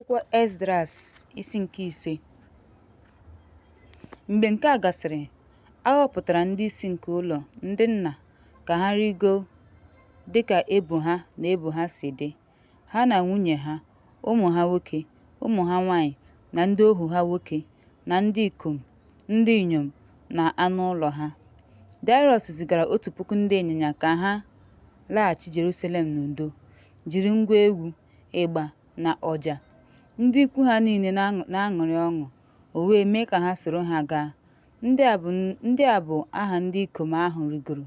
Akwụkwọ Esdras isi nke ise Mgbe nke a gasịrị, a họpụtara ndị isi nke ụlọ ndị nna ka ha rịgo dị ka ebo ha na ebo ha si dị, ha na nwunye ha, ụmụ ha nwoke, ụmụ ha nwanyị, na ndị ohu ha nwoke, na ndị ikom, ndị inyom, na anụ ụlọ ha. Daịrọs zigara otu puku ndị ịnyịnya ka ha laghachi Jerusalem n'udo, jiri ngwa egwu, ịgba, na ọja, ndị ikwu ha niile na-aṅụrị ọṅụ, o wee mee ka ha soro ha gaa. Ndị a bụ aha ndị ikom ahụ rịgoro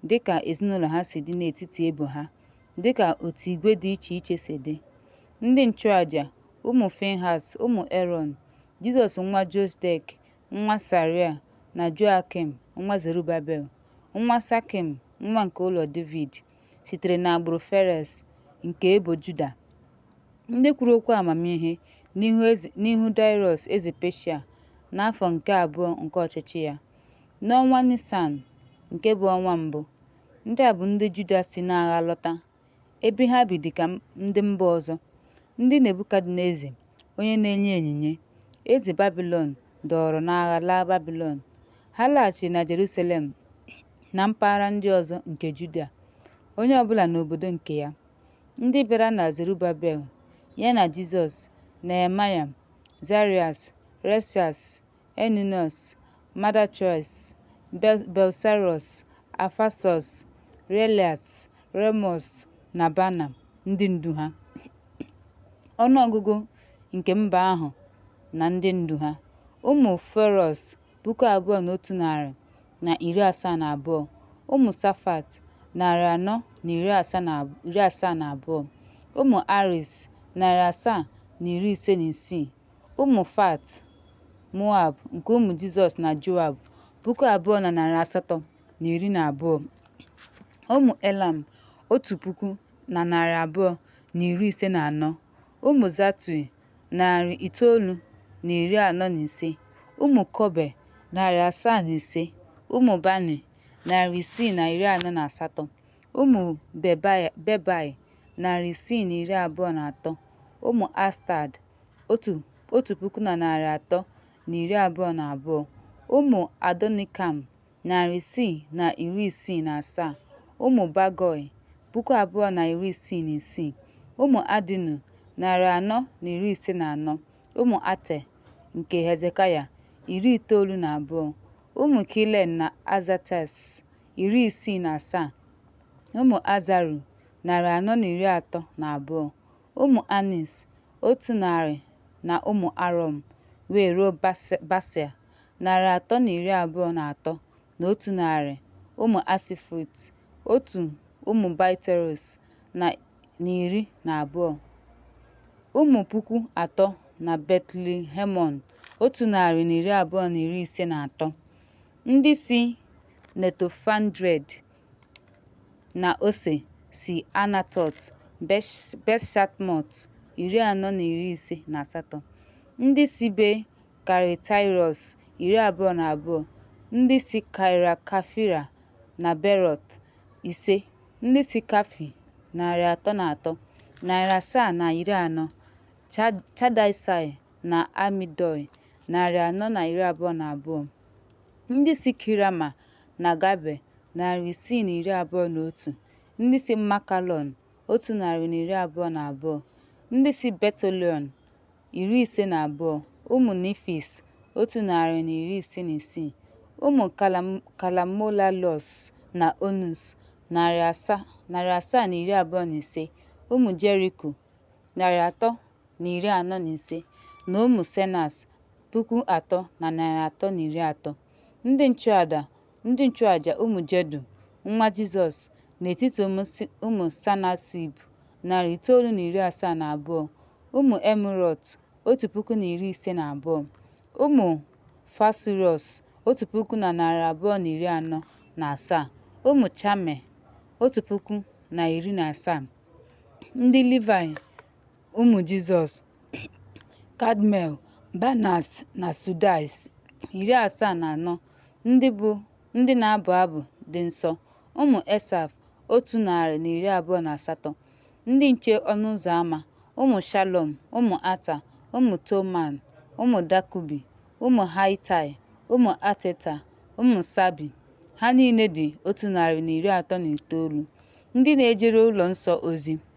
dịka ezinụlọ ha si dị n'etiti ebo ha, dịka otu igwe dị iche iche si dị. Ndị nchụaja, ụmụ Finhas, ụmụ Erọn, Jizọs nwa Josdek, nwa Saria, na Joakim nwa Zerubabel, nwa Sakim, nwa nke ụlọ Devid, sitere n'agbụrụ Ferez nke ebo Juda. Ndị kwuru okwu amamihe n'ihu Daịrọs eze Peshia n'afọ nke abụọ nke ọchịchị ya, n'ọnwa Nisan, nke bụ ọnwa mbụ. Ndị a bụ ndị Juda si n'agha lọta, ebe ha bi dị ka ndị mba ọzọ, ndị Nebukadneza onye na-enye onyinye, eze Babilọn dọọrọ n'agha laa Babilọn. Ha laghachiri na Jerusalem na mpaghara ndị ọzọ nke Juda, onye ọ bụla n'obodo nke ya. Ndị bịara na Zerubabel, ya na Jizọs, Nehemaya, Zarias, Resias, Eninọs, Madachois, Belsarọs, Afasọs, Relias, Remọs, na Bana, ndị ndu ha. Ọnụ ọgụgụ nke mba ahụ na ndị ndu ha. Ụmụ Ferọs puku abụọ na otu narị na iri asaa na abụọ ụmụ Safat narị anọ na iri asaa na abụọ ụmụ Aris narị asaa na iri ise na isii ụmụ Fat Moab nke ụmụ Jizọs na Joab puku abụọ na narị asatọ na iri na abụọ ụmụ Elam otu puku na narị abụọ na iri ise na anọ ụmụ Zatui narị itoolu na iri anọ na ise, ụmụ Kobe, narị asaa na ise, ụmụ Bani, narị isii na iri anọ na asatọ, ụmụ Bebai, narị isii na iri abụọ na atọ, ụmụ Astad, otu puku na narị atọ na iri abụọ na abụọ, ụmụ Adonikam, narị isii na iri isii na asaa, ụmụ Bagoi, puku abụọ na iri isii na isii, ụmụ Adinu, narị anọ na iri ise na anọ, ụmụ Ater, nke Hezekaya, iri itoolu na abụọ, ụmụ Kilen na Azates, iri isii na asaa, ụmụ Azaru, narị anọ na iri atọ na abụọ, ụmụ Anis, otu narị na ụmụ Arom, wee ruo Basia. narị atọ na iri abụọ na atọ na otu narị ụmụ Asifrit, otu ụmụ Baiteros na iri na abụọ, ụmụ puku atọ na Betlihemon, otu narị na iri abụọ na iri ise na atọ, ndị si Netofandred na ose si Anatot Beshatmot, iri anọ na iri ise na asatọ, ndị si be Karitairos iri abụọ na abụọ, ndị si Kairakafira na Berọt, ise, ndị si Kafi, narị atọ na atọ, narị asaa na iri anọ, Chadaisai na Amidoi, narị anọ na iri abụọ na abụọ, ndị si Kirama na Gabe, narị isii na iri abụọ na otu, ndị si Makalọn, otu narị na iri abụọ na abụọ, ndị si Betolion, iri ise na abụọ, ụmụ Nifis, otu narị na iri ise na isii, ụmụ Kalamolalos na Onus, narị asaa na iri abụọ na ise, ụmụ Jeriko, narị atọ na iri anọ na ise, na ụmụ Senas, puku atọ na narị atọ na iri atọ. Ndị nchụada Ndị nchụaja ụmụ Jedu, nwa Jizọs, n'etiti ụmụ Sanasib, narị itoolu na iri asaa na abụọ, ụmụ Emirọt, otu puku na iri ise na abụọ, ụmụ Fasurọs, otu puku na narị abụọ na iri anọ na asaa, ụmụ Chame, otu puku na iri na asaa. Ndị Livaị ụmụ Jizọs, Kadmel, Banas na Sudais, iri asaa na anọ, ndị bụ ndị na-abụ abụ dị nsọ, ụmụ Esaf, otu narị na iri abụọ na asatọ, ndị nche ọnụ ụzọ ama, ụmụ Shalom, ụmụ Ata, ụmụ Toman, ụmụ Dakubi, ụmụ Haitai, ụmụ Ateta, ụmụ Sabi, ha niile dị otu narị na iri atọ na itoolu, ndị na-ejere ụlọ nsọ ozi.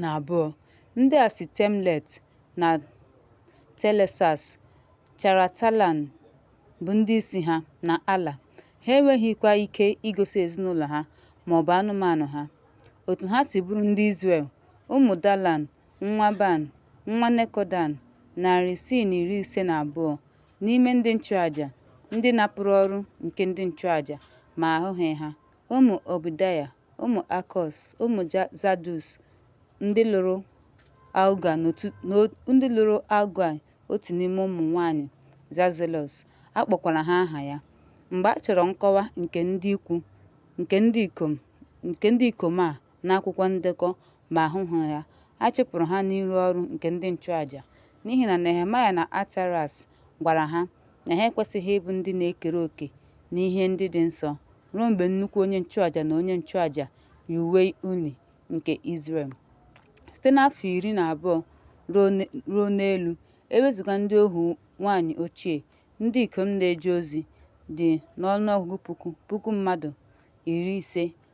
na abụọ. Ndị a si Temlet na Telesas, Charatalan bụ ndị isi ha, na Ala. Ha enweghịkwa ike igosi ezinụlọ ha ma ọ bụ anụmanụ ha. Otu ha si bụrụ ndị Izrel, ụmụ Dalan, nwa Ban, nwa Nekodan, narị isii na iri ise na abụọ n'ime ndị nchụaja, ndị napụrụ ọrụ nke ndị nchụaja ma a hụghị ha. Ụmụ Ọbdaya, ụmụ Akọs, ụmụ Zadus, ndị lụrụ Aụgaị otu n'ime ụmụ nwaanyị Zazelọs, a kpọkwara ha aha ya. Mgbe a chọrọ nkọwa nke ndị ikwu nke ndị ikom a n'akwụkwọ ndekọ ma a hụghị ha, a chụpụrụ ha n'ịrụ ọrụ nke ndị nchụaja, n'ihi na Nehemaya na Atareas gwara ha na ha ekwesịghị ịbụ ndị na-ekere oke n'ihe ndị dị nsọ ruo mgbe nnukwu onye nchụaja na onye nchụaja yi uwe uni nke Izrel. Site n'afọ iri na abụọ ruo n- ruo n'elu, e wezuga ndị ohu nwanyị ochie, ndị ikom na-eje ozi dị n'ọnụọgụgụ puku puku mmadụ iri ise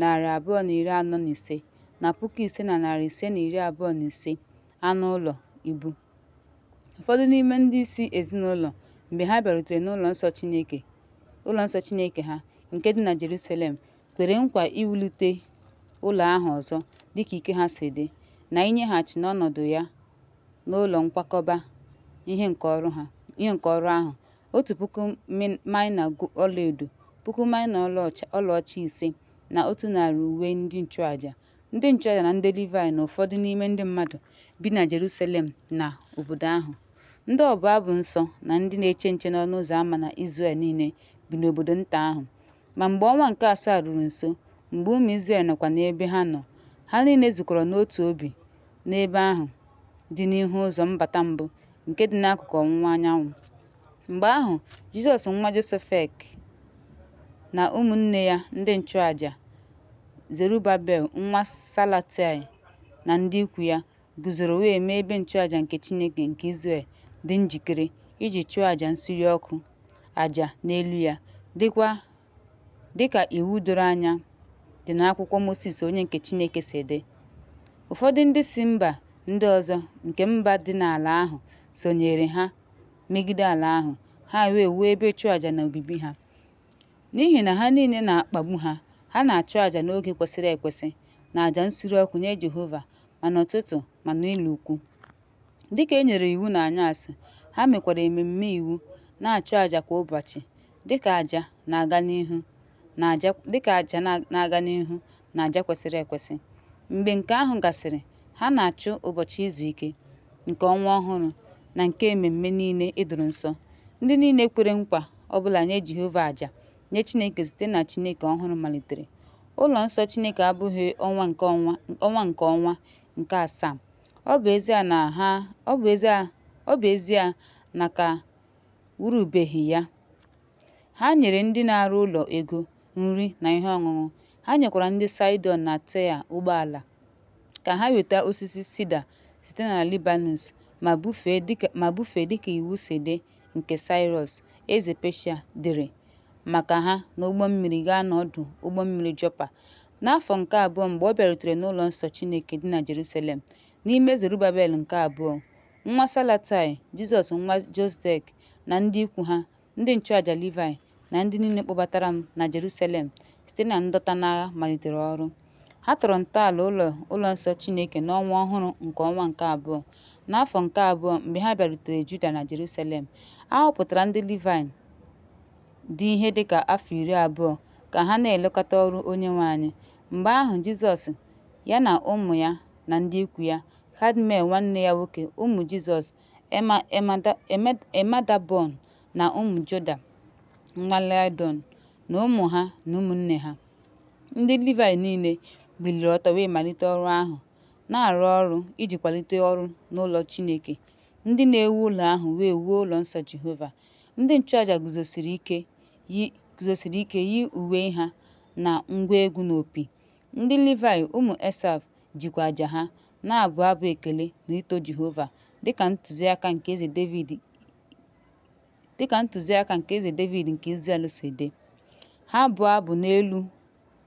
narị abụọ na iri anọ na ise na puku ise na narị ise na iri abụọ na ise anụ ụlọ ibu. Ụfọdụ n'ime ndị isi ezinụlọ mgbe ha bịarutere n'ụlọ nsọ Chineke ụlọ nsọ Chineke ha nke dị na Jerusalem kwere nkwa iwulite ụlọ ahụ ọzọ dịka ike ha si dị na inyeghachi n'ọnọdụ ya n'ụlọ nkwakọba ihe nke ọrụ ahụ otu puku maịna ọlaedo, puku maịna ọlaọcha ise, na otu narị uwe ndị nchụaja. Ndị nchụaja na ndị Livaị na ụfọdụ n'ime ndị mmadụ bi na Jerusalem na obodo ahụ. Ndị ọbụ abụ nsọ na ndị na-eche nche n'ọnụ ụzọ ama na Izrel niile bi n'obodo nta ahụ. Ma mgbe ọnwa nke asaa ruru nso, mgbe ụmụ Izrel nọkwa n'ebe ha nọ, ha niile zukọrọ n'otu obi n'ebe ahụ dị n'ihu ụzọ mbata mbụ nke dị n'akụkụ ọwụwa anyanwụ. Mgbe ahụ, Jizọs nwa Josefek na ụmụnne ya ndị nchụaja, Zerubabel nwa Salatai na ndị ikwu ya, guzoro wee mee ebe nchụaja nke Chineke nke Izrel dị njikere iji chụọ aja nsure ọkụ aja n'elu ya, dịkwa Dịka iwu doro anya dị n'akwụkwọ Mosis onye nke Chineke si dị, ụfọdụ ndị si mba ndị ọzọ nke mba dị n'ala ahụ sonyeere ha megide ala ahụ, ha wee wuo ebe ịchụ aja na obibi ha. N'ihi na ha niile na-akpagbu ha, ha na-achụ aja n'oge kwesịrị ekwesị na aja nsure ọkụ nye Jehova ma n'ụtụtụ ma n'ụlọ ukwu. Dịka e nyere iwu n'anyasị, ha mekwara ememme iwu, na-achụ aja kwa ụbọchị. Dịka aja na-aga n'ihu na aja kwesịrị ekwesị. Mgbe nke ahụ gasịrị, ha na-achụ ụbọchị izu ike, nke ọnwa ọhụrụ, na nke ememme niile e doro nsọ. Ndị niile kwere nkwa ọ bụla nye Jehova aja nye Chineke site na Chineke ọhụrụ malitere. Ụlọ nsọ Chineke abụghị ọnwa nke ọnwa nke asaa. Ọ bụ ezie na ọ bụ ezie na ka wurubeghị ya. Ha nyere ndị na-arụ ụlọ ego, nri, na ihe ọṅụṅụ. Ha nyekwara ndị Saịdọn na Taịa ụgbọala ka ha weta osisi sida site na Libanus ma bufee dịka iwu si dị nke Saịrọs eze Peshia dere maka ha n'ụgbọ mmiri gaa n'ọdụ ụgbọ mmiri Jọpa. N'afọ nke abụọ mgbe ọ bịarutere n'ụlọ nsọ Chineke dị na Jerusalem, n'ime Zerubabel nke abụọ, nwa Salatai, Jizọs nwa Josdek na ndị ikwu ha, ndị nchụaja Livaị, na ndị niile kpọbatara m na Jerusalem site na ndọta n'agha malitere ọrụ. Ha tọrọ ntọala ụlọ nsọ Chineke n'ọnwa ọhụrụ nke ọnwa nke abụọ, n'afọ nke abụọ mgbe ha bịarutere Juda na Jerusalem. A họpụtara ndị Livaị dị ihe dị ka afọ iri abụọ ka ha na-elekọta ọrụ Onyenwe anyị. Mgbe ahụ Jizọs, ya na ụmụ ya na ndị ikwu ya, Kadmiel nwanne ya nwoke, ụmụ Jizọs, Emadabọn na ụmụ Joda nwa Laịdọn na ụmụ ha na ụmụnne ha. Ndị Livaị niile biliri ọtọ wee malite ọrụ ahụ, na-arụ ọrụ iji kwalite ọrụ n'ụlọ Chineke. Ndị na-ewu ụlọ ahụ wee wuo ụlọ nsọ Jehova. Ndị nchụaja guzosiri ike yi uwe ha na ngwa egwu na opi. Ndị Livaị ụmụ Esaf jikwa aja ha na-abụ abụ ekele na ito Jehova dịka ntụziaka nke Eze Devid dịka ntụziaka nke eze Devid nke Izrel si dị. Ha abụọ abụ n'elu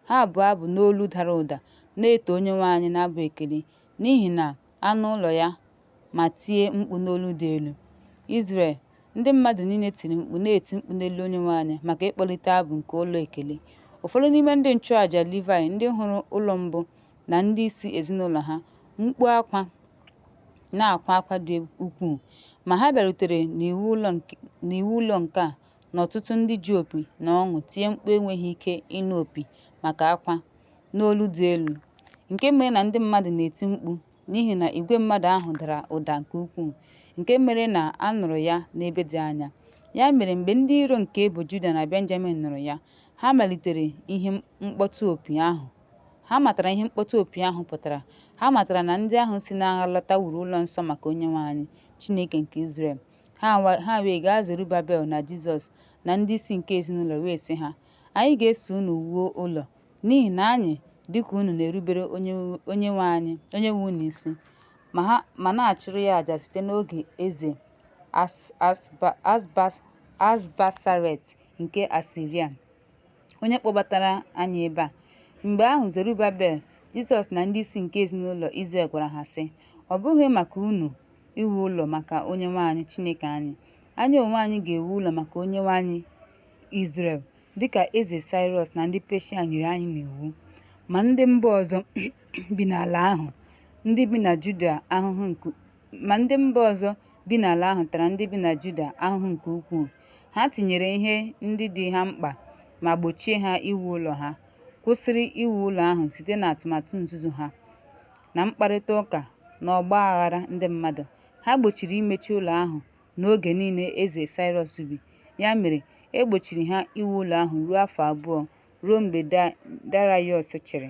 ha abụọ abụ n'olu dara ụda na-eto Onyenwe anyị n'abụ ekele n'ihi na anụ ụlọ ya ma tie mkpu n'olu dị elu. Izrel, ndị mmadụ niile tiri mkpu na-eti mkpu n'elu Onyenwe anyị maka ịkpọlite abụ nke ụlọ ekele. Ụfọdụ n'ime ndị nchụàjà Livaị ndị hụrụ ụlọ mbụ na ndị isi ezinụlọ ha, mkpu akwa na-akwa akwa dị ukwuu ma ha bịarutere n'iwu ụlọ nke a na ọtụtụ ndị ji opi na ọṅụ tie mkpu enweghị ike ịnụ opi maka akwa n'olu dị elu nke mere na ndị mmadụ na-eti mkpu n'ihi na igwe mmadụ ahụ dara ụda nke ukwuu nke mere na a nụrụ ya n'ebe dị anya ya mere mgbe ndị iro nke ebo Juda na Benjamin nụrụ ya ha malitere ihe mkpọtụ opi ahụ Ha matara ihe mkpọtụ opi ahụ pụtara. Ha matara na ndị ahụ si n'agha lọta wuru ụlọ nsọ maka Onyenwe anyị, Chineke nke Izrel. Ha wa- ha wee gaa Zerubabel na Jizọs na ndị isi nke ezinụlọ wee sị ha, Anyị ga-eso unu wuo ụlọ, n'ihi na anyị, dịka unu, na-erubere Onye- Onyenwe anyị, Onyenwe unu isi, ma ha ma na-achụrụ ya aja site n'oge eze As- Asba- Asbas- Asbasaret nke Asiria. onye kpọbatara anyị ebe a. Mgbe ahụ Zerubabel, Jizọs na ndị isi nke ezinụlọ Izrel gwara ha sị, Ọ bụghị maka unu iwu ụlọ maka Onyenwe anyị Chineke anyị. Anyị onwe anyị ga-ewu ụlọ maka Onyenwe anyị Izrel, dịka eze Saịrọs na ndị Peshia nyere anyị n'iwu. Ma ndị mba ọzọ bi n'ala ahụ, ndị bi na Juda ahụhụ nke ma ndị mba ọzọ bi n'ala ahụ tara ndị bi na Juda ahụhụ nke ukwuu. Ha tinyere ihe ndị dị ha mkpa ma gbochie ha iwu ụlọ ha, kwụsịrị iwu ụlọ ahụ site n'atụmatụ nzuzo ha na mkparịta ụka na ọgba aghara ndị mmadụ. Ha gbochiri imechi ụlọ ahụ n'oge niile Eze Saịrọs bi. Ya mere, e gbochiri ha iwu ụlọ ahụ ruo afọ abụọ, ruo mgbe Darayọs chịrị.